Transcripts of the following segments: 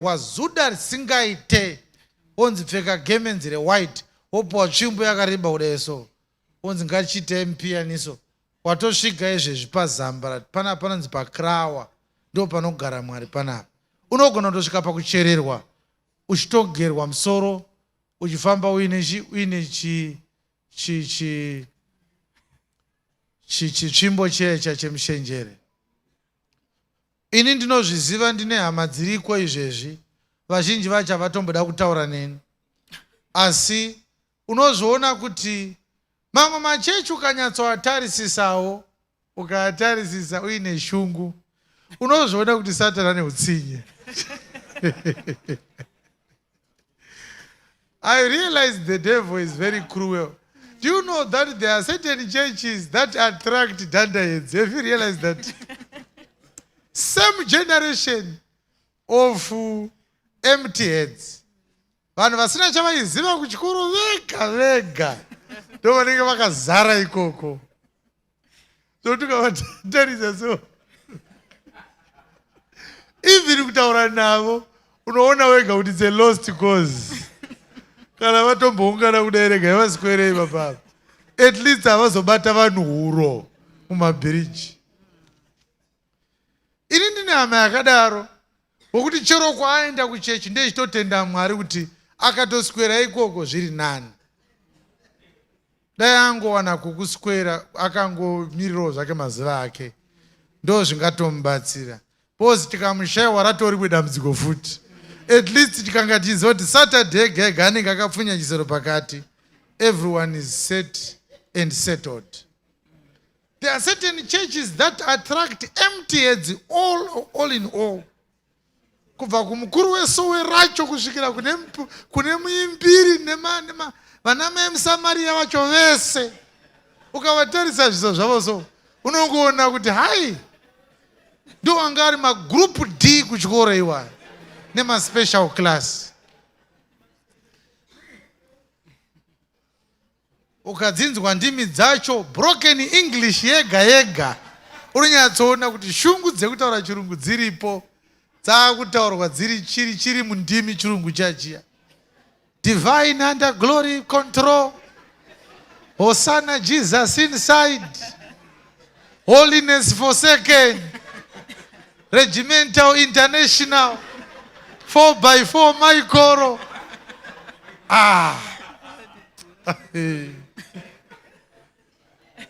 wazuda risingaite onzi pfeka gemenzi rewhite wopiwa tsvimbo yakareba kudai so onzi ngatichiita mupiyaniso watosvika izvezvi pazambara pana panonzi pakrawa ndo panogara mwari panapa unogona kutosvika pakuchererwa uchitogerwa musoro uchifamba uine chi uine chi chi chi chitsvimbo checha chemushenjere Ini ndinozviziva ndine hama dziriko izvezvi vazhinji vacho havatomboda kutaura neni asi unozviona kuti mamwe machechi ukanyatsoatarisisawo ukaatarisisa uine shungu unozviona kuti satani ane utsinye I realize the devil is very cruel. Do you know that there are certain churches that attract dandaheads? Have you realized that? Same generation of uh, empty heads. Vanhu vasina chavaiziva kuchikoro vega vega ndovanenge vakazara ikoko. so tukavatarisa so even kutaura navo unoona wega kuti it's a lost cause kana vatomboungana kudai rega yavaswerei vapapa at least havazobata vanhu huro mumabhiriji ini ndine hama yakadaro wokuti chero kwaaenda kuchechi ndechitotenda mwari kuti akatoswera ikoko zviri nani dai angowana kukuswera akangomirirawo zvake mazuva ake ndo zvingatomubatsira bcause tikamushaiwa ratoribwe dambudziko futi at least tikanga tichiziva kuti saturday gega anenge akapfunya chisero pakati everyone is set and settled There are certain churches that attract empty heads all, all in all. Kubva kumukuru wesowe racho kusvikira kune, kune muimbiri nema, nema, vana mai musamariya vacho vese ukavatarisa zviso zvavo so unongoona kuti hai ndo anga ari magroup d kuchikoro iwayo nemaspecial class Ukadzinzwa ndimi dzacho broken English yega yega unonyatsoona kuti shungu dzekutaura chirungu dziripo dzakutaurwa dziri chiri chiri mundimi chirungu chachiya divine under glory control hosana jesus inside Holiness Forsaken Regimental International 4 by 4 Maikoro ah.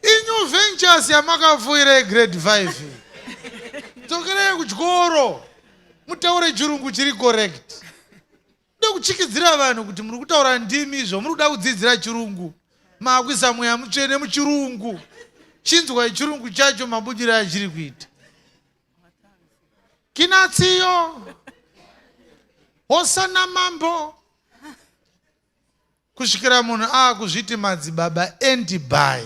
Inyu ventures yamakafuira grade 5 dzokerai kuchikoro mutaure chirungu chiri correct Ndoda kutyikidzira vanhu kuti muri kutaura ndimi izvo muri kuda kudzidzira chirungu maakuisa mweya mutsvene muchirungu chinzwai chirungu chacho mabudiro achiri kuita kinatsiyo hosana mambo Kusvikira munhu aakuzviti madzibaba and by.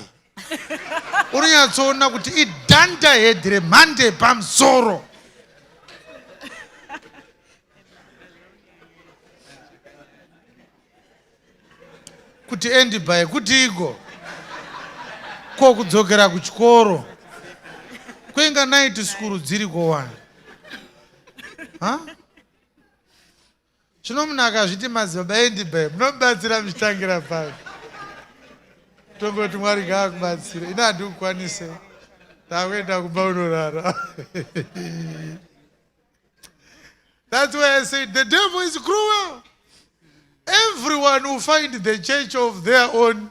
Unonyatsoona kuti idhanda head remhande yepamusoro. kuti endi by kutiiko ko kudzokera kuchikoro kwenga naiti sikuru dziri kowani huh? Zvino munhu akazviti madzibaba endi babe munobatsira muchitangira papi? Tongoti Mwari ngaakubatsire. Ini handikukwanise. Ndakuenda kumba unorara. That's why I said the devil is cruel. Everyone will find the church of their own